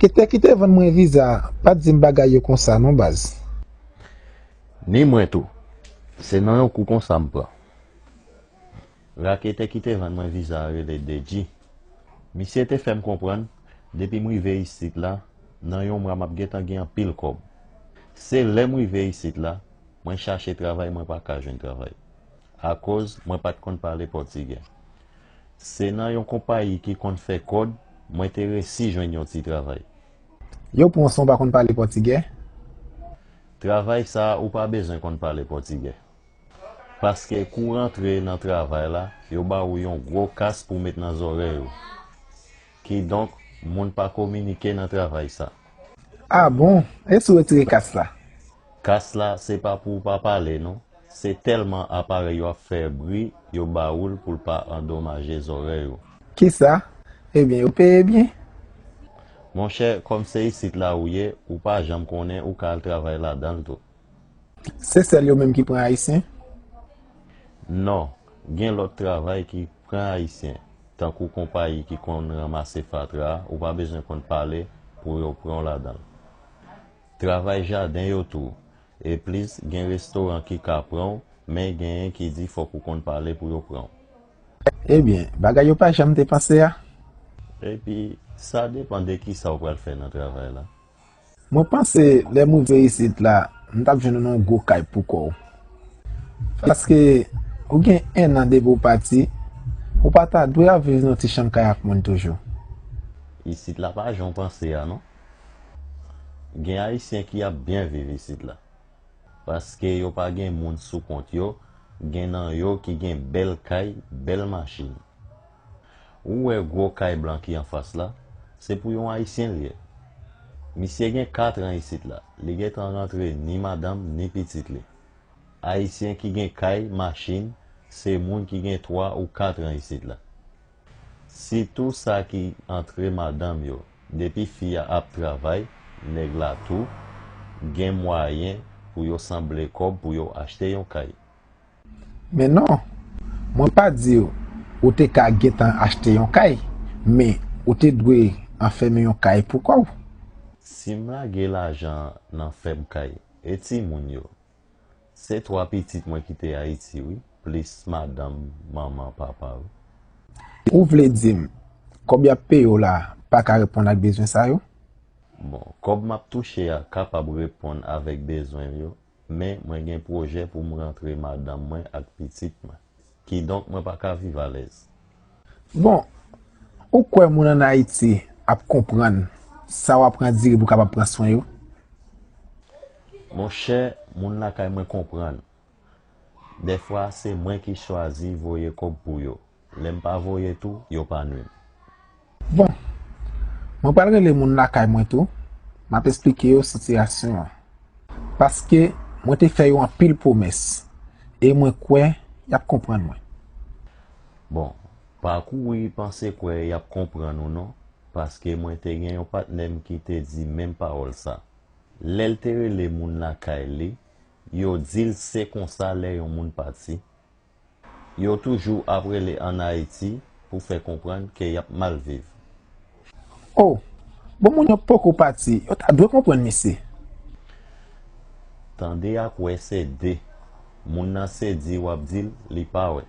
Doktè ki te vann mwen viza a pat di m bagay yo konsa non baz. Ni mwen tou. Se nan yon kou konsa m pran. Raketè ki te vann mwen viza a rele Dedji. Misye te fè m konprann depi m rive isit la nan yon mwa m ap gentan gen anpil kòb. Se lè m rive isit la mwen chache travay mwen pa ka jwenn travay. Akoz mwen pat konn pale pòtigè. Se nan yon konpayi ki konn fè kòd mwen te resi jwenn yon ti travay. Yow Ponson ou pa konn pale pòtigè? Travay sa ou pa bezwen konn pale pòtigè. Paske kou rantre nan travay la yo ba ou yon gwo kas pou met nan zòrèy ou. Kidonk moun pa kominike nan travay sa. Ah bon? E si w retire kas la? Kas la se pa pou w pa pale non, se tèlman aparèy yo ap fè bri yo ba ou l pou l pa andomaje zòrèy ou. Kisa? Ebyen yo peye byen? Monchè, kòm se isit la ou ye, ou pa janm konnen ou ka al travay ladan l tou. Se sèl yo menm ki pran Ayisyen? Non, gen lòt travay ki pran Ayisyen, tankou konpayi ki konn ranmase fatra a, ou pa bezwen konn pale pou yo pran w ladan l. Travay jaden yo tou. E plis gen restoran ki ka pran w men genyen ki di fòk ou konn pale pou yo pran w. Ebyen bagay yo pa janm te panse a. Epi sa depan de kisa ou pral fè nan travay la. Mwen panse lè m rive isit la m tap jwenn ou nan yon gwo kay pou kò w. Paske ou gen 1 an depi ou pati, ou pa ta dwe ap viv nan yon ti chanm kay ak moun toujou. Isit la pa jan w panse a non. Gen ayisyen ki ap byen viv isit la. Paske yo pa gen moun sou kont yo, gen nan yo ki gen bèl kay, bèl machin. Ou wè gwo kay blan ki anfas la, se pou yon ayisyen l ye. Misye gen katran isit la, li gen tan rantre ni madanm ni pitit li. Ayisyen ki gen kay, machin, se moun ki gen twa ou katran isit la. Sitou sa ki antre madanm yo. Depi fi a ap travay, nèg la tou gen mwayen pou yo sanble kòb pou yo achte yon kay. Men non, mwen pa di w ou te ka gentan achte yon kay, men ou te dwe anfème yon kay pou kò w. Si m lage lajan nan fèm kay, e timoun yo? Se 3 pitit mwen kite Ayiti wi, plis madanm, manman, papa wi. Ou vle dim, kòb yap peye w la pa ka reponn ak bezwen sa yo? Bon, kòb map touche a kapab reponn avèk bezwen m yo, men mwen gen pwojè pou m rantre madanm mwen ak pitit mwen. Kidonk mwen pa ka viv alèz. Bon, ou kwè moun an Ayiti ap konprann sa w ap andire pou w kapab pran swen yo? Monchè, moun lakay mwen konprann. Dèfwa, se mwen ki chwazi voye kòb pou yo. Lè m pa voye tou, yo pa nwi m. Bon, mwen pral rele moun lakay mwen tou, m ap esplike yo sitiyasyon an. Paske mwen te fè yo anpil pwomès e mwen kwè y ap konprann mwen. Bon, pa kouri panse kwè y ap konprann ou non, paske mwen te gen yon patnè m ki te di menm pawòl sa. Lè l te rele moun lakay li, yo di l se konsa lè yon moun pati, Yo toujou ap rele an Ayiti pou fè konprann ke y ap mal viv. O! Bon moun yo poko pati, yo ta dwe konprann mesye. Tande ak wè se de. Moun nan se di w ap di l li pa wè.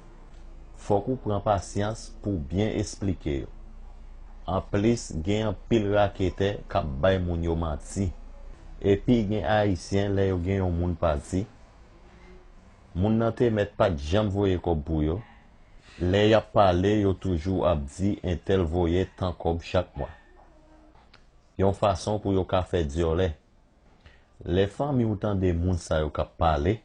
Fòk ou pran pasyans pou w byen esplike yo. Anplis gen anpil raketè k ap bay moun yo manti. Epi gen Ayisyen lè yo gen yon moun pati. Moun nan te mèt pat janm voye kòb pou yo, lè yap pale yo toujou ap di entèl voye tan kòb chak mwa. Yon fason pou yo ka fè dyòlè. Lè fanmi w tande moun sa yo kap pale,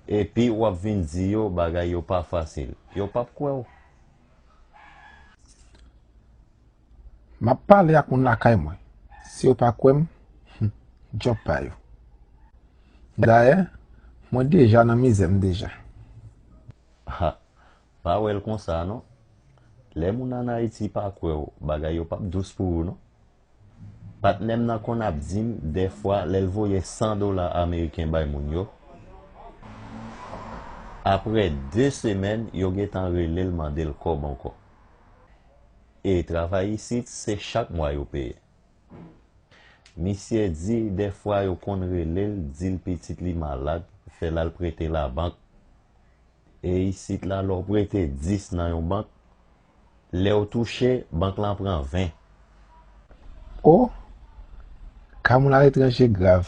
epi wap vin di yo bagay yo pa fasil, yo pap kwè w. Map pale ak moun lakay mwen. Si yo pa kwè m, hum, djòb pa yo. Dayè, mwen deja nan mizè m deja. Ha, pa wè l konsa non. Lè moun an Ayiti pa kwè w, bagay yo pap dous pou ou non. Patnè m nan konn ap di m dèfwa lè l voye 100 dola ameriken bay moun yo, aprè 2 semèn yo gentan rele l mande l kòb ankò. E travay isit se chak mwa yo peye. Misyè di dèfwa yo konn rele l di l pitit li malad fè l al prete labank. E isit la lè w prete 10 nan yon bank, lè w touche bank lan pran 20. O, ka moun aletranje grav.